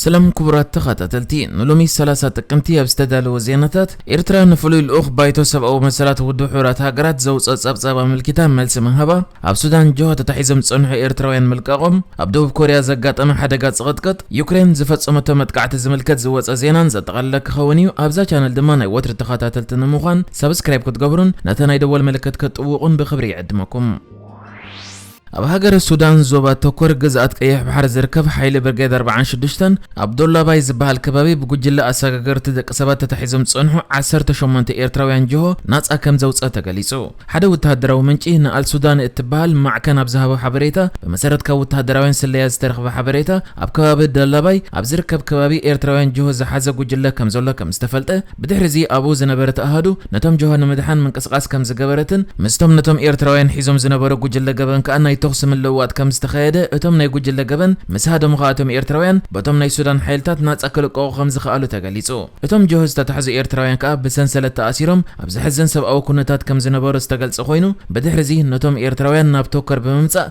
ሰላም ክቡራት ተኻታተልቲ ንሎሚ ሰላሳ ጥቅምቲ ኣብ ዝተዳለወ ዜናታት ኤርትራ ንፍሉይ ልኡኽ ባይቶ ሰብኣዊ መሰላት ውድብ ሕቡራት ሃገራት ዘውጽኦ ጸብጻብ ኣመልኪታ መልሲ ምሃባ ኣብ ሱዳን ጆሆ ተታሒዞም ዝጸንሑ ኤርትራውያን ምልቃቖም ኣብ ደቡብ ኮርያ ዘጋጠመ ሓደጋ ጽቕጥቅጥ ዩክሬን ዝፈጸመቶ መጥቃዕቲ ዝምልከት ዝወጸ ዜናን ዘጠቓለለ ክኸውን እዩ ኣብዛ ቻነል ድማ ናይ ወትሪ ተኻታተልቲ ንምዃን ሳብስክራይብ ክትገብሩን ነታ ናይ ደወል ምልክት ክትጥውቑን ብክብሪ ይዕድመኩም ኣብ ሃገረ ሱዳን ዞባ ተኮር ግዝኣት ቀይሕ ባሕሪ ዝርከብ ሓይሊ ብርጌድ ኣርብዓን ሽዱሽተን ኣብ ዶላባይ ዝበሃል ከባቢ ብጉጅለ ኣሰጋገርቲ ደቂ ሰባት ተታሒዞም ዝጸንሑ ዓሰርተ ሸሞንተ ኤርትራውያን ጅሆ ናጻ ከም ዘውጽኣ ተገሊጹ። ሓደ ወተሃደራዊ ምንጪ ንኣልሱዳኒ እትበሃል ማዕከን ኣብ ዝሃቦ ሓበሬታ ብመሰረት ካብ ወተሃደራውያን ስለያ ዝተረኽበ ሓበሬታ ኣብ ከባቢ ደላባይ ኣብ ዝርከብ ከባቢ ኤርትራውያን ጅሆ ዝሓዘ ጉጅለ ከም ዘሎ ከም ዝተፈልጠ ብድሕሪ'ዚ ኣብኡ ዝነበረት ኣሃዱ ነቶም ጀሆ ንምድሓን ምንቅስቓስ ከም ዝገበረትን ምስቶም ነቶም ኤርትራውያን ሒዞም ዝነበሩ ጉጅለ ገበን ከኣ ናይ ተኹሲ ምልውዋጥ ከም ዝተኻየደ እቶም ናይ ጉጅለ ገበን ምስ ሃደሙ ከኣ እቶም ኤርትራውያን በቶም ናይ ሱዳን ሓይልታት ናጻ ክልቀቑ ከም ዝኸኣሉ ተገሊጹ። እቶም ጀሆ ዝተታሕዙ ኤርትራውያን ከኣ ብሰንሰለት ተኣሲሮም ኣብ ዘሕዝን ሰብኣዊ ኩነታት ከም ዝነበሩ ዝተገልጸ ኮይኑ ብድሕሪ'ዚ ነቶም ኤርትራውያን ናብ ቶከር ብምምጻእ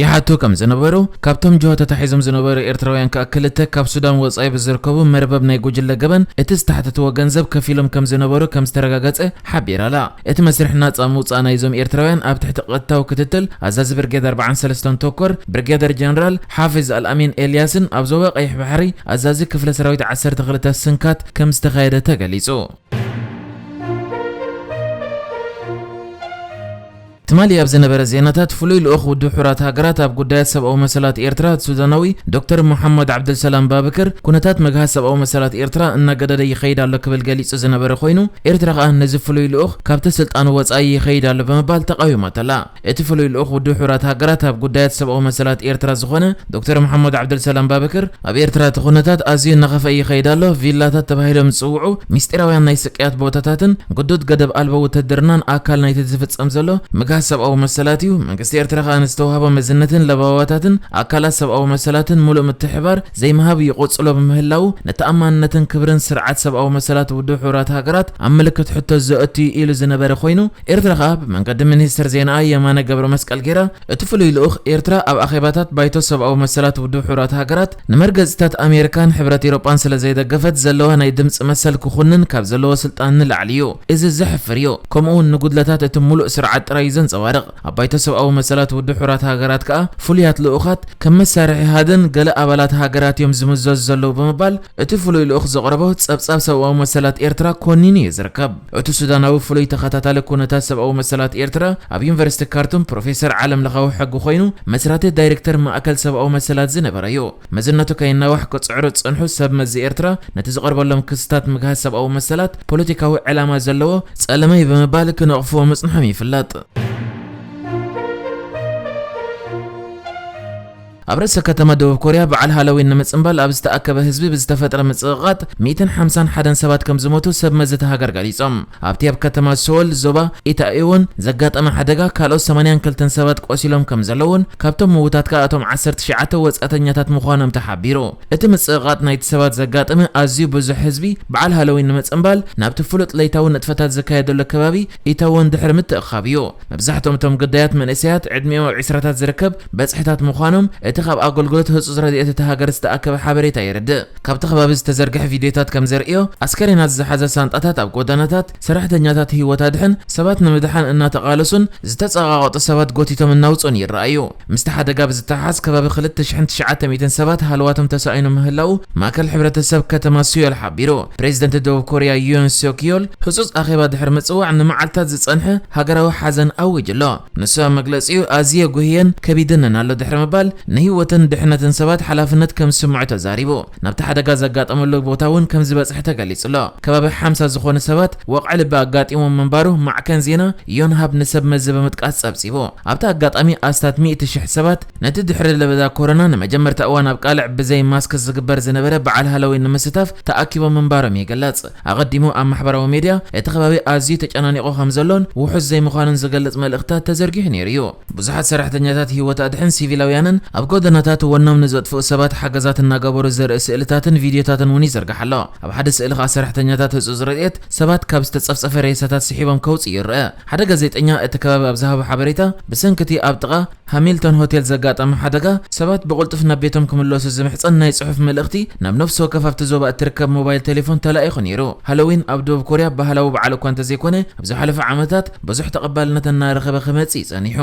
ይሓቱ ከም ዝነበሩ፣ ካብቶም ጅሆ ተታሒዞም ዝነበሩ ኤርትራውያን ከኣ ክልተ ካብ ሱዳን ወጻኢ ብዝርከቡ መርበብ ናይ ጉጅለ ገበን እቲ ዝተሓተትዎ ገንዘብ ከፊሎም ከም ዝነበሩ ከም ዝተረጋገጸ ሓቢራ'ላ። እቲ መስርሕ ናጻ ምውጻእ ናይዞም ኤርትራውያን ኣብ ትሕቲ ቐጥታዊ ክትትል ኣዛዚ ብርጌድ ኣርብዓን ሰለስተን ቶኮር ብርጌደር ጀነራል ሓፊዝ ኣልኣሚን ኤልያስን ኣብ ዞባ ቀይሕ ባሕሪ ኣዛዚ ክፍለ ሰራዊት ዓሰርተ ክልተ ስንካት ከም ዝተኻየደ ተገሊጹ። ትማሊ ኣብ ዝነበረ ዜናታት ፍሉይ ልኡኽ ውድብ ሕቡራት ሃገራት ኣብ ጉዳያት ሰብኣዊ መሰላት ኤርትራ ሱዳናዊ ዶክተር ሞሓመድ ዓብዱልሰላም ባብከር ኩነታት ምግሃስ ሰብኣዊ መሰላት ኤርትራ እናገደደ ይኸይድ ኣሎ ክብል ገሊጹ ዝነበረ ኮይኑ ኤርትራ ከኣ ነዚ ፍሉይ ልኡኽ ካብቲ ስልጣኑ ወጻኢ ይኸይድ ኣሎ ብምባል ተቓዊማቶ'ላ። እቲ ፍሉይ ልኡኽ ውድብ ሕቡራት ሃገራት ኣብ ጉዳያት ሰብኣዊ መሰላት ኤርትራ ዝኾነ ዶክተር ሞሓመድ ዓብዱልሰላም ባብከር ኣብ ኤርትራ እቲ ኩነታት ኣዝዩ እናኸፍኣ ይኸይድ ኣሎ፣ ቪላታት ተባሂሎም ዝጽውዑ ምስጢራውያን ናይ ስቅያት ቦታታትን ግዱድ ገደብ ኣልቦ ውትህድርናን ኣካል ናይቲ ዝፍጸም ዘሎ ምግሃስ ሰብኣዊ መሰላት እዩ፣ መንግስቲ ኤርትራ ከኣ ንዝተዋህቦ መዝነትን ለበዋታትን ኣካላት ሰብኣዊ መሰላትን ምሉእ ምትሕብባር ዘይምሃብ ይቕጽሎ ብምህላዉ ንተኣማንነትን ክብርን ስርዓት ሰብኣዊ መሰላት ውድብ ሕቡራት ሃገራት ኣብ ምልክት ሕቶ ዘእቱ'ዩ ኢሉ ዝነበረ ኮይኑ ኤርትራ ከኣ ብመንገዲ ሚኒስትር ዜናኣ የማነ ገብረመስቀል ጌራ እቲ ፍሉይ ልኡኽ፣ ኤርትራ ኣብ ኣኼባታት ባይቶ ሰብኣዊ መሰላት ውድብ ሕቡራት ሃገራት ንመርገጺታት ኣሜሪካን ሕብረት ኢሮጳን ስለ ዘይደገፈት ዘለዋ ናይ ድምጺ መሰል ክኹንን ካብ ዘለዎ ስልጣን ንላዕሊ እዩ። እዚ ዘሕፍር እዩ። ከምኡ'ውን ንጉድለታት እቲ ምሉእ ስርዓት ጥራይ እዩ ዘንጸባርቕ። ኣብ ባይቶ ሰብኣዊ መሰላት ውድብ ሕቡራት ሃገራት ከኣ ፍሉያት ልኡኻት ከም መሳርሒ ሃደን ገለ ኣባላት ሃገራት እዮም ዝምዘዙ ዘለዉ ብምባል እቲ ፍሉይ ልኡኽ ዘቕረቦ ጸብጻብ ሰብኣዊ መሰላት ኤርትራ ኮኒኑ እዩ ዝርከብ። እቲ ሱዳናዊ ፍሉይ ተኸታታሊ ኩነታት ሰብኣዊ መሰላት ኤርትራ ኣብ ዩኒቨርሲቲ ካርቱም ፕሮፌሰር ዓለምለኻዊ ሕጊ ኮይኑ መስራቲ ዳይሬክተር ማእከል ሰብኣዊ መሰላት ዝነበረ'ዩ። መዝነቱ ከይናዋሕ ክጽዕሩ ዝጸንሑ ሰብ መዚ ኤርትራ ነቲ ዝቐርበሎም ክስታት ምግሃስ ሰብኣዊ መሰላት ፖለቲካዊ ዕላማ ዘለዎ ጸለመ'ዩ ብምባል ክነቕፍዎ ምጽንሖም ይፍለጥ። ኣብ ርእሰ ከተማ ደቡብ ኮርያ በዓል ሃሎዊን ንምጽንባል ኣብ ዝተኣከበ ህዝቢ ብዝተፈጥረ ምጽቕቓጥ ሚእትን ሓምሳን ሓደን ሰባት ከም ዝሞቱ ሰብ መዚ እታ ሃገር ገሊጾም። ኣብቲ ኣብ ከተማ ሰወል፣ ዞባ ኢታኢዎን፣ ዘጋጠመ ሓደጋ ካልኦት ሰማንያን ክልተን ሰባት ቆሲሎም ከም ዘለዉን ካብቶም ምዉታት ከኣ እቶም ዓሰርተ ትሽዓተ ወጻእተኛታት ምዃኖም ተሓቢሩ። እቲ ምጽቕቓጥ ናይቲ ሰባት ዘጋጠመ ኣዝዩ ብዙሕ ህዝቢ በዓል ሃሎዊን ንምጽንባል ናብቲ ፍሉጥ ለይታዊ ንጥፈታት ዝካየደሉ ከባቢ ኢተወን ድሕሪ ምትእኽኻብ እዩ። መብዛሕትኦም እቶም ግዳያት መንእሰያት ዕድሚኦም ኣብ ዕስራታት ዝርከብ በጽሕታት ምዃኖም እቲ ካብ ኣገልግሎት ህጹጽ ረድኤት እታ ሃገር ዝተኣከበ ሓበሬታ የረድእ። ካብቲ ከባቢ ዝተዘርግሐ ቪድዮታት ከም ዘርእዮ፣ ኣስከሬናት ዝሓዛ ሳንጣታት ኣብ ጎደናታት፣ ሰራሕተኛታት ህይወት ኣድሕን ሰባት ንምድሓን እናተቓለሱን ዝተጸቓቐጡ ሰባት ጎቲቶም እናውጽኡን ይረኣዩ። ምስቲ ሓደጋ ብዝተሓሓዝ ከባቢ ክልተ ሽሕን ትሽዓተ ሚእትን ሰባት ሃለዋቶም ተሳኢኑ ምህላዉ ማእከል ሕብረተሰብ ከተማ ስዮል ሓቢሩ። ፕሬዚደንት ደቡብ ኮርያ ዩን ስዮክ ዮል ህፁፅ ኣኼባ ድሕሪ ምፅዋዕ ንመዓልትታት ዝፀንሐ ሃገራዊ ሓዘን ኣዊጁ ኣሎ። ንሱ ኣብ መግለፂኡ ኣዝየ ጉህየን ከቢድንን ኣሎ ድሕሪ ምባል ንህይወትን ድሕነትን ሰባት ሓላፍነት ከም ዝስምዖ ተዛሪቡ። ናብቲ ሓደጋ ዘጋጠመሉ ቦታ እውን ከም ዝበፅሐ ተገሊፁ ኣሎ። ከባቢ ሓምሳ ዝኾኑ ሰባት ወቕዒ ልቢ ኣጋጢሞም ምንባሩ ማዕከን ዜና ዮንሃፕ ንሰብ መዚ ብምጥቃስ ፀብፂቡ። ኣብቲ ኣጋጣሚ ኣስታት ሚእቲ ሽሕ ሰባት ነቲ ድሕሪ ለበዳ ኮሮና ንመጀመርታ እዋን ኣብ ቃልዕ ብዘይ ማስክ ዝግበር ዝነበረ በዓል ሃሎዊን ንምስታፍ ተኣኪቦም ምንባሮም ይግለጽ። ኣቐዲሙ ኣብ ማሕበራዊ ሚድያ እቲ ከባቢ ኣዝዩ ተጨናኒቑ ከምዘሎን ውሑስ ዘይምዃኑን ዝገልጽ መልእኽትታት ተዘርጊሑ ነይሩ'ዩ። ብዙሓት ሰራሕተኛታት ህይወት ኣድሕን ሲቪላውያንን ኣብ ጎደናታት ወኖም ንዘጥፍኡ ሰባት ሓገዛት እናገበሩ ዘርኢ ስእልታትን ቪድዮታትን እውን ይዝርጋሕ ኣሎ። ኣብ ሓደ ስእሊ ከኣ ሰራሕተኛታት ህጹጽ ረድኤት ሰባት ካብ ዝተጸፍጸፈ ሬሳታት ስሒቦም ከውጽኡ ይርኣ። ሓደ ጋዜጠኛ እቲ ከባቢ ኣብ ዝሃቦ ሓበሬታ፣ ብሰንኪ እቲ ኣብ ጥቓ ሃሚልቶን ሆቴል ዘጋጠመ ሓደጋ፣ ሰባት ብቕልጡፍ ናብ ቤቶም ክምለሱ ዝምሕጸን ናይ ጽሑፍ መልእኽቲ ናብ ነፍሲ ወከፍ ኣብቲ ዞባ እትርከብ ሞባይል ቴሌፎን ተላኢኹ ነይሩ። ሃሎዊን ኣብ ደቡብ ኮርያ ባህላዊ በዓል እኳ እንተዘይኰነ፣ ኣብ ዝሓለፉ ዓመታት ብዙሕ ተቐባልነት እናረኸበ ክመጽእ እዩ ጸኒሑ።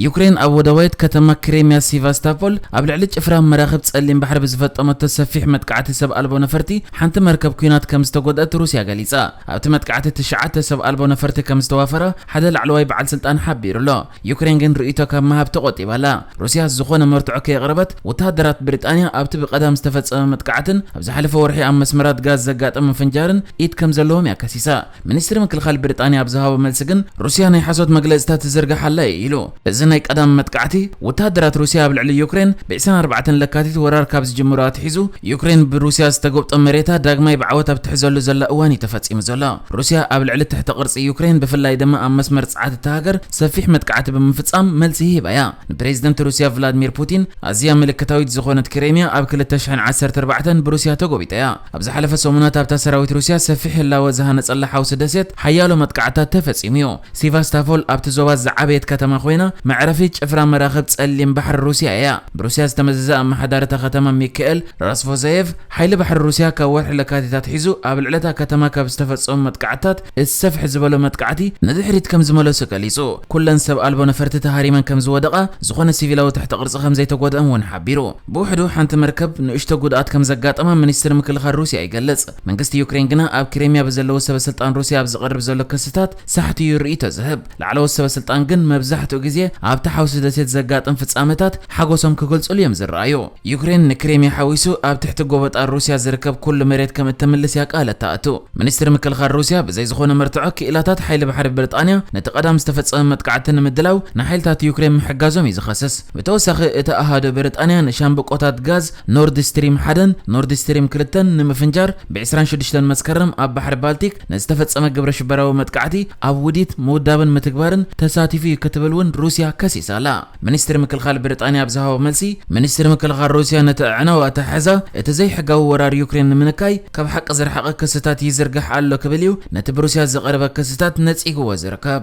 ዩክሬን ኣብ ወደባዊት ከተማ ክሬምያ ሲቫስታፖል ኣብ ልዕሊ ጭፍራ መራኽብ ጸሊም ባሕሪ ብዝፈጠመቶ ሰፊሕ መጥቃዕቲ ሰብ ኣልቦ ነፈርቲ ሓንቲ መርከብ ኲናት ከም ዝተጎድኣት ሩስያ ገሊጻ። ኣብቲ መጥቃዕቲ ትሽዓተ ሰብ ኣልቦ ነፈርቲ ከም ዝተዋፈራ ሓደ ላዕለዋይ በዓል ስልጣን ሓቢሩ'ሎ። ዩክሬን ግን ርእይቶ ካብ ምሃብ ተቖጢባ ኣላ። ሩስያ ዝኾነ መርትዖ ከየቕረበት፣ ወተሃደራት ብሪጣንያ ኣብቲ ብቀዳም ዝተፈጸመ መጥቃዕትን ኣብ ዝሓለፈ ወርሒ ኣብ መስመራት ጋዝ ዘጋጠመ ፍንጃርን ኢድ ከም ዘለዎም እያ ከሲሳ። ሚኒስትሪ ምክልኻል ብሪጣንያ ኣብ ዝሃቦ መልሲ ግን ሩስያ ናይ ሓሶት መግለጺታት ትዝርግሕ ኣላ እዩ ኢሉ። እዚ ናይ ቀዳም መጥቃዕቲ፣ ወተሃደራት ሩስያ ኣብ ልዕሊ ዩክሬን ብ ዕስራን ኣርባዕተን ለካቲት ወራር ካብ ዝጅምሩ ኣትሒዙ፣ ዩክሬን ብሩስያ ዝተጎብጠ መሬታ ዳግማይ ብዓወት ኣብ ትሕዘሉ ዘላ እዋን እዩ ተፈጺሙ ዘሎ። ሩስያ ኣብ ልዕሊ ትሕተ ቅርጺ ዩክሬን ብፍላይ ድማ ኣብ መስመር ጸዓት እታ ሃገር ሰፊሕ መጥቃዕቲ ብምፍጻም መልሲ ሂባ እያ። ንፕሬዚደንት ሩስያ ቭላድሚር ፑቲን ኣዝያ ምልክታዊት ዝኾነት ክሬሚያ ኣብ ክልተ ሽሕን ዓሰርተ ኣርባዕተን ብሩስያ ተጎቢጣ እያ። ኣብ ዝሓለፈ ሰሙናት ኣብታ ሰራዊት ሩስያ ሰፊሕ ህላወ ዝሃነጸላ ሓውሲ ደሴት ሓያሎ መጥቃዕትታት ተፈጺሙ እዩ። ሲቫስታፖል ኣብቲ ዞባ ዝዓበየት ከተማ ኮይና፣ መዕረፊ ጭፍራ መራኽብ ጸሊም ባሕሪ ሩስያ እያ። ብሩስያ ዝተመዘዘ ኣመሓዳሪ እታ ከተማ ሚካኤል ራስቮዘየቭ፣ ሓይሊ ባሕሪ ሩስያ ካብ ወርሒ ለካቲት ኣትሒዙ ኣብ ልዕሊ እታ ከተማ ካብ ዝተፈጸሙ መጥቃዕትታት እቲ ሰፍሕ ዝበሎ መጥቃዕቲ ንድሕሪት ከም ዝመለሱ ገሊጹ። ኩለን ሰብ ኣልቦ ነፈርቲ ተሃሪመን ከም ዝወደቓ፣ ዝኾነ ሲቪላዊ ትሕተ ቅርጺ ከም ዘይተጎድኦም እውን ሓቢሩ። ብውሕዱ ሓንቲ መርከብ ንእሽቶ ጉድኣት ከም ዘጋጠማ ሚኒስትሪ ምክልኻል ሩስያ ይገልጽ። መንግስቲ ዩክሬን ግና ኣብ ክሬምያ ብዘለዉ ሰበስልጣን ሩስያ ኣብ ዝቐርብ ዘሎ ክስታት ሳሕቲ እዩ ርእይቶ ዝህብ። ላዕለዎት ሰበስልጣን ግን መብዛሕትኡ ግዜ ኣብታ ሓውሲ ደሴት ዘጋጥም ፍጻመታት ሓጎሶም ክገልጹሉ እዮም ዝረኣዩ። ዩክሬን ንክሬምያ ሓዊሱ ኣብ ትሕቲ ጎበጣ ሩስያ ዝርከብ ኩሉ መሬት ከም እተምልስ እያ ቃል እተእቱ። ሚኒስትሪ ምክልኻል ሩስያ ብዘይ ዝኾነ መርትዖ ክኢላታት ሓይሊ ባሕሪ ብሪጣንያ ነቲ ቀዳም ዝተፈጸመ መጥቃዕቲ ንምድላው ንሓይልታት ዩክሬን ምሕጋዞም እዩ ዝኸስስ። ብተወሳኺ እቲ ኣሃዱ ብሪጣንያ ንሻምብቆታት ጋዝ ኖርድ ስትሪም ሓደን ኖርድ ስትሪም ክልተን ንምፍንጃር ብ ዕስራን ሽዱሽተን መስከረም ኣብ ባሕሪ ባልቲክ ንዝተፈጸመ ግብረሽበራዊ መጥቃዕቲ ኣብ ውዲት፣ ምውዳብን ምትግባርን ተሳቲፉ እዩ ክትብል እውን ሩስያ ከሲሳ ኣላ። ሚኒስትሪ ምክልኻል ብሪጣንያ ኣብ ዝሃቦ መልሲ፣ ሚኒስትሪ ምክልኻል ሩስያ ነቲ ኣዕናዊ ኣተሓሕዛ እቲ ዘይሕጋዊ ወራር ዩክሬን ንምንካይ ካብ ሓቂ ዝረሓቐ ክስታት ይዝርግሕ ኣሎ ክብል እዩ ነቲ ብሩስያ ዝቐረበ ክስታት ነጺግዎ ዝርከብ።